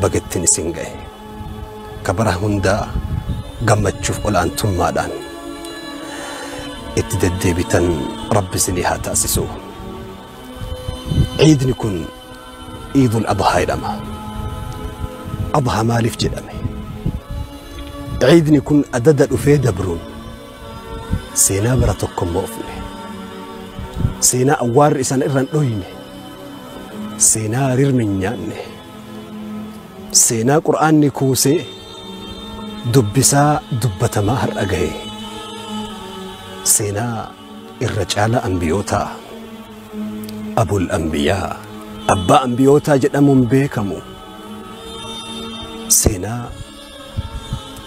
baga ittiin isin ga'e. Ka bara hundaa gammachuuf ol'aantummaadhaan itti deddeebitan Rabbi isinii haa taasisu. Ciidni kun Iidul Adhaa jedhama. Adhaa maaliif jedhame? Ciidni kun adada dhufee dabruun Seenaa bara tokko hin moofne. Seenaa awwaarri isan irra hin dhoyne. Seenaa rirmi hin nyaanne. Seenaa qur'aanni kuusee dubbisaa dubbatamaa har'a gahe. Seenaa irra caala ambiyootaa. Abul ambiyaa. Abbaa ambiyootaa jedhamuun beekamu. Seenaa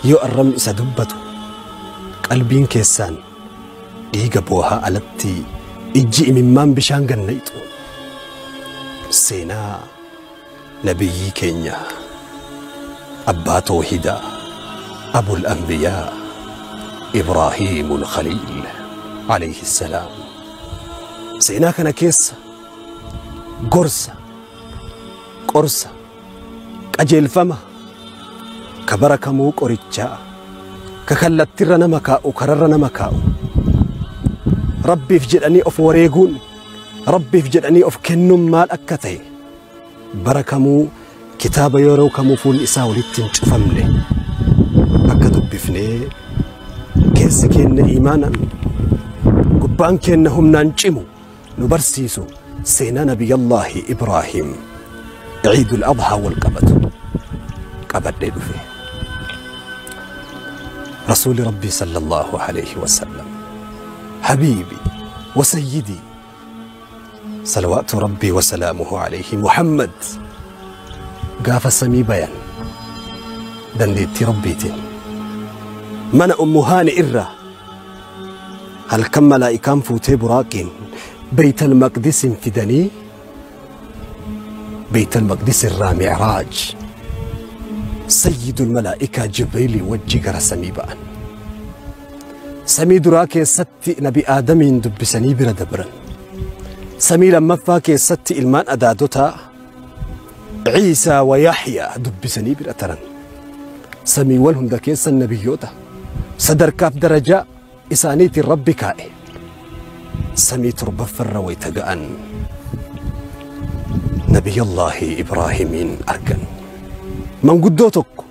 yoo arrabni isa dubbatu qalbiin keessaan dhiiga boohaa alatti ijji imimmaan bishaan ganna ixu seenaa nabiyyii keenya abbaa toohidaa abul anbiyaa ibraahiimul khaliil alayhi salaam seenaa kana keessa gorsa qorsa Qajeelfama, ka bara kamuu qorichaa, ka kallattirra nama kaa'u, kararra nama kaa'u. Rabbiif jedhanii of wareeguun, Rabbiif jedhanii of kennuun maal akka ta'e bara kamuu kitaaba yeroo kamuu fuulli isaa walitti hin cufamne akka dubbifnee keessi keenna iimaanan, gubbaan keenna humnaan cimu, nu barsiisu seenaa Nabiyyallaahi Ibraahiim Iidul Adhaa wal qabatu qabadhee dhufe. Rasuuli Rabbii sallallahu alayhi wa sallam habiibi wa sayyidii salawaatu Rabbii wa salaamuhu alayhi Muhammad gaafa samii bayan dandeettii Rabbiitiin mana ummu haani irraa Halkan malaa'ikaan fuutee buraaqiin Beeytal Maqdisiin fidanii Beeytal Maqdis irraa Mi'raaj Sayyidul Malaa'ikaa Jibriilii wajji gara samii ba'an. Samii duraa keessatti Nabi Aadamiin dubbisanii bira dabran. Samii lammaffaa keessatti ilmaan adaadotaa Ciisaa wa Yahyaa dubbisanii bira taran. Samiiwwan hunda keessa nabiyyoota sadarkaaf darajaa isaaniitiin Rabbi kaa'e. Samii torbaffarra wayita ga'an Nabiyullaahi Ibraahimiin argan. Manguddoo tokko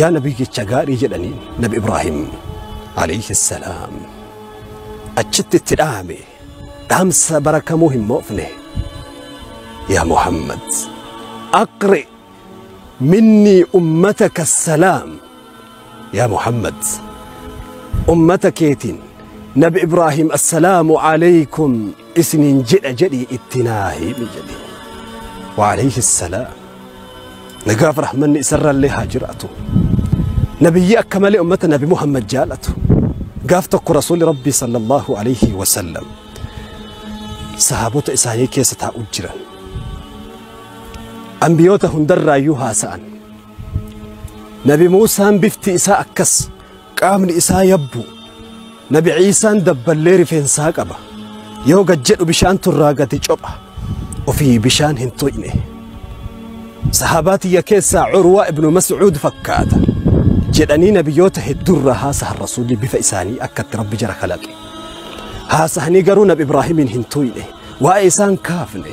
Yaa nabii jecha gaarii jedhaniin nabi Ibraahim alayhi salaam achitti itti dhaame dhaamsa bara kamuu hin moofne yaa Muhammad aqri minnii ummataka salaam Yaa Muhammad! Ummata keetiin Nabi Ibraahiim Assalaamu Aleeykum isiniin jedha jedhii itti naa himi jedhe. Wa Aleeyhi Salaam. Nagaaf rahmanni isarrallee haa jiraatu. Nabiyyi akka malee ummata Nabi Muhammad jaalatu. Gaaf tokko Rasuulli Rabbii sallallahu alayhi wa sallam sahaabota isaanii keessa taa'u jiran. Ambiyoota hundarraayyuu haasa'an. Nabi Muusaan bifti isaa akkas, qaamni isaa yabbu. Nabi Ciisaan dabballee rifeensaa qaba. Yoo gad jedhu bishaantu irraa gadi copha. Ofii bishaan hin tuqne. Sahaabaa tiyya keessaa Urwaa ibnu Mas'uud fakkaata. Jedhanii nabiyyoota hedduurraa haasahan rasuulli bifa isaanii akkatti rabbi jara kalaqe. Haasahanii garuu nabi Ibraahimiin hin tuqne. Waa'ee isaan kaafne.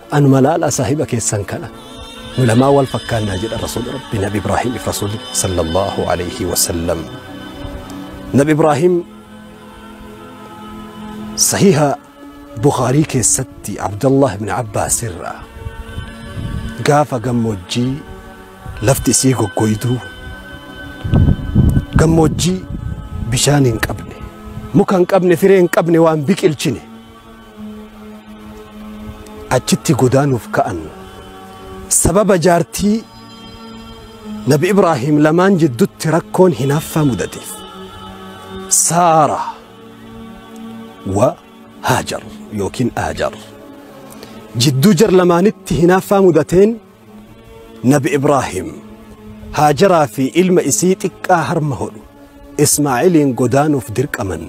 Anuma laalaa saahiba keessan kana nu lamaa wal fakkaannaa jedha rasuulli rabbi nabi ibraahiimiif rasuulli sallallahu alayhi wasallam nabi ibraahiim sahiha bukhaarii keessatti abdallah ibn abbaas irraa gaafa gammoojjii lafti isii goggoyduu gammoojjii bishaan hin qabne muka hin qabne firee hin qabne waan biqilchine achitti godaanuuf ka'an sababa jaartii nabi ibraahiim lamaan jiddutti rakkoon hinaaffaa mudateef saara wa haajar yookiin aajar jidduu jar lamaanitti hinaaffaa mudateen Nabi Ibraahim Haajaraa fi ilma isii xiqqaa harma hodhu Ismaa'iliin godaanuuf dirqaman.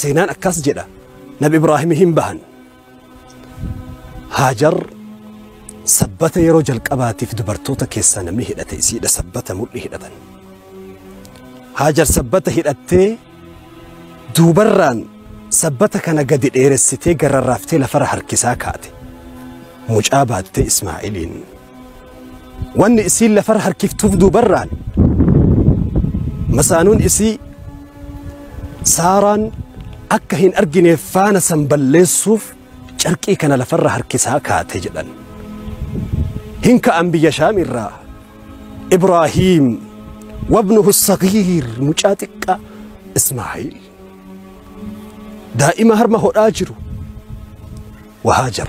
Seenaan akkas jedha Nabi Ibraahim hin bahan. Haajar sabbata yeroo jalqabaatiif dubartoota keessaa namni hidhate isiidha sabbata mudhii hidhatan. Haajar sabbata hidhattee Duubarraan sabbata kana gadi dheeressitee garrarraaftee lafarra harkisaa kaate. Mucaa baattee Ismaa'iliin. Wanni isiin lafarra harkiftuuf duubarraan masaanuun isii Saaraan akka hin argineef faana san balleessuuf Carqii kana lafarra harkisaa kaate jedhan. Hin ka'an biyya Shaam irraa. Ibraahiim wabnuhu sagiir mucaa xiqqaa Ismaa'iil. Daa'ima harma hodhaa jiru. Wahaajar.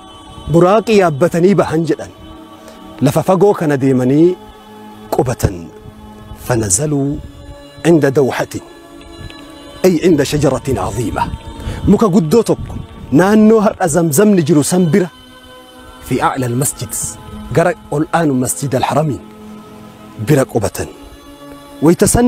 Buraaqii yaabbatanii bahan jedhan. Lafa fagoo kana deemanii qubatan. Fanazaluu inda dawhatin. Ay inda shajaratin aziima. Muka guddoo tokko naannoo har'a zamzamni jiru san bira fi a'la almasjid gara ol aanu masjid alharamiin bira qubatan. Wayta san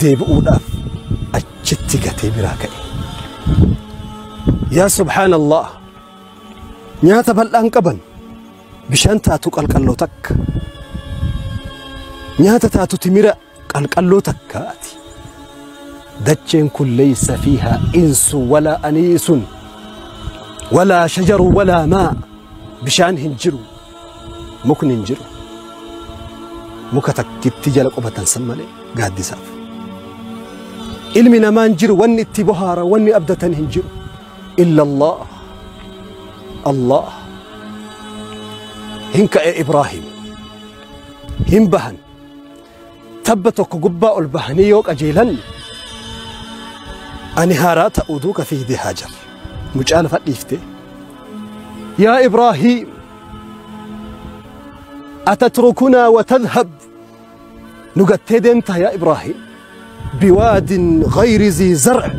deebi'uudhaaf achitti gatee biraa ka'e. Yaa subhaanallah nyaata bal'aan qaban bishaan taatu qalqalloo takka nyaata taatu timira qalqalloo takkaati. Dacheen kun leeysa fiihaa insu walaa aniisun walaa shajaru walaa maa bishaan hin jiru Mukni hin jiru. Muka takkittii jala qubatan san malee gaaddisaaf. Ilmi namaa hin jiru wanni itti bohaara wanni abdatan hin jiru. Illa Allah. Allah. Hin ka'e Ibraahim. Hin bahan. Tabba tokko gubbaa ol bahanii yoo qajeelan ani haaraa ta'uu duuka fiigdee haajar mucaa lafa dhiifte yaa ibraahiim atatrukunaa watadhab nu gattee deemtaa yaa ibraahiim biwaadin gayri zii zar'a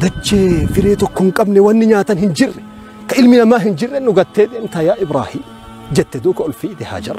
dachee firee tokko hin qabne wanni nyaatan hin jirre ka ilmi namaa hin jirre nu gattee deemtaa yaa ibraahiim jette duuka ol fiigde haajar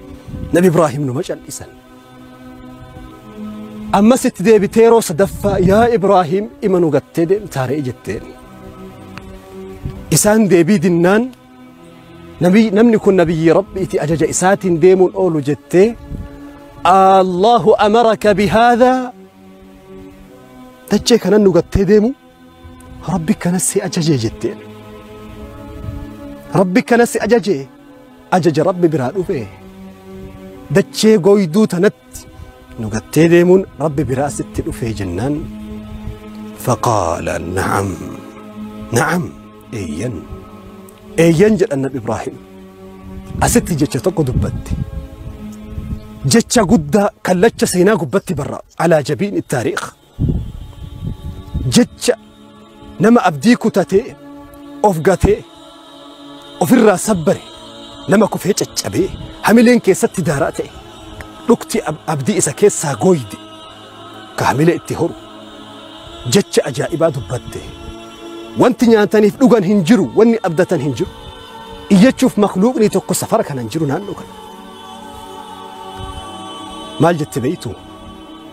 Nabi Ibraahim numa cal'isan. Ammas itti deebitee yeroo sadaffaa yaa Ibraahim ima nu gattee deemtaa re'e jetteen. Isaan deebii dinnaan nabi- namni kun nabiyyi Rabbiiti ajaja isaatiin deemuun oolu jettee Allahu amaraka bihaadhaa dachee kanan nu gattee deemu Rabbi kanas si ajajee jetteen. Rabbi kanas si ajajee ajaja Rabbi biraa dhufee dachee gooyduu tanatti nu gattee deemuun Rabbi biraa sitti dhufee jennaan. Faqaala na'am na'am eeyyan eeyyan jedhan Nabi Ibraahim asitti jecha tokko dubbatte. Jecha guddaa kallacha seenaa gubbatti barra alaa jabiin taariikha. jecha nama abdii kutatee of gatee ofirraa sabbare nama kufee caccabee hamileen keessatti daaraa ta'e dhukti ab- abdii isa keessaa gooyde ka hamilee itti horu jecha ajaa'ibaa dubbatte wanti nyaataniif dhugan hin jiru wanni abdatan hin jiru iyyachuuf makluuqni tokko safara kana hin jiru naannoo kana maal jette beeytu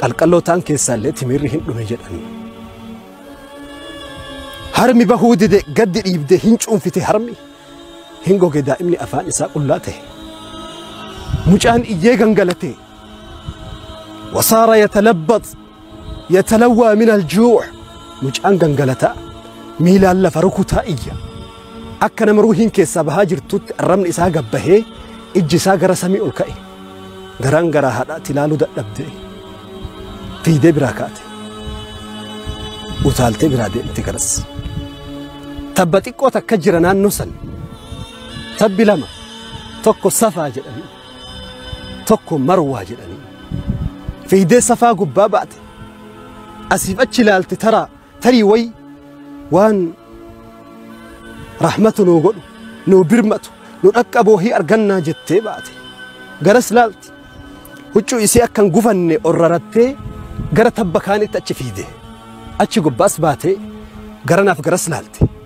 Qalqallootaan keessaallee timiirri hin dhume jedhan. Harmi bahuu dide gaddi dhiibde hin cuunfite harmi hin goge daa'imni afaan isaa qullaa ta'e. Mucaan iyyee gangalate. Wasaara yatalabbax yatalawwaa min aljuu' mucaan gangalataa miilaan lafa rukutaa iyya. Akka nama ruuhiin keessaa bahaa jirtutti arrabni isaa gabbahee ijji isaa gara samii ol ka'e. Garaan garaa haadhaati laaluu dadhabdee fiigdee biraa kaate. Utaaltee biraa deemte garas. Tabba xiqqoo takka jira naannoo san. Tabbi lama tokko safaa jedhanii tokko marwaa jedhanii. Fiigdee safaa gubbaa baate. Asiif achi ilaalte taraa. Tarii way waan rahmata nuu godhu, nuu birmatu, nu dhaqqaboo hi argannaa jettee baate. Garas laalti. Huccuu isii akka hin gufanne orrarattee gara tabba kaanitti achi fiide. Achi gubbaas baatee garanaaf garas laalte.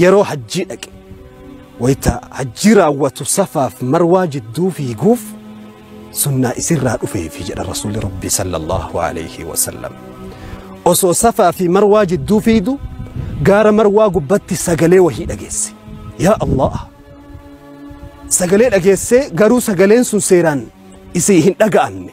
Yeroo hajjii dhaqe. Wayta hajjii raawwatu safaaf marwaa jidduu fiiguuf sunnaa isirraa dhufeefi jedha rasuulli rabbii sallallahu alayhi wasallam. Osoo safaa fi marwaa jidduu fiidu gaara marwaa gubbatti sagalee wahii dhageesse. Yaa Allah! Sagalee dhageessee garuu sagaleen sun seeraan isii hin dhaga'amne.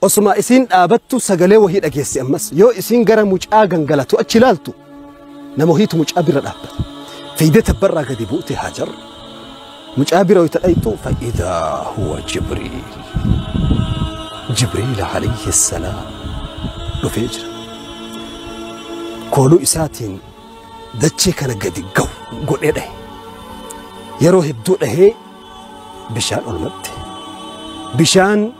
Osuma isiin dhaabattu sagalee wahii dhageessi ammas yoo isiin gara mucaa gangalatu achi ilaaltu nama wahiitu mucaa bira dhaabbata. Fiigdee tabbarraa gadi buute Haajar mucaa bira wayita dhayxu fa'idaa huwa Jibriil. Jibriil alayhi salaam dhufee jira. Kooluu isaatiin dachee kana gadi gahu godhee dhahe. Yeroo hedduu dhahee bishaan olmatte. Bishaan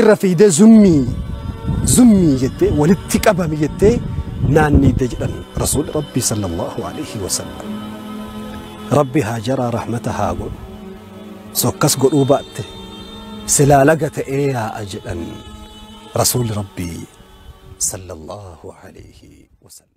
irra fiidee zummii zummii jettee walitti qabami jettee naanniidde jedhan rasuulli rabbii sallallahu alaihi wasallam rabbi haa jaraa rahmata haa godhu sokkas godhuu baatte silaa laga ta'ee yaa'a jedhan rasuulli rabbii sallallahu alaihi wasallam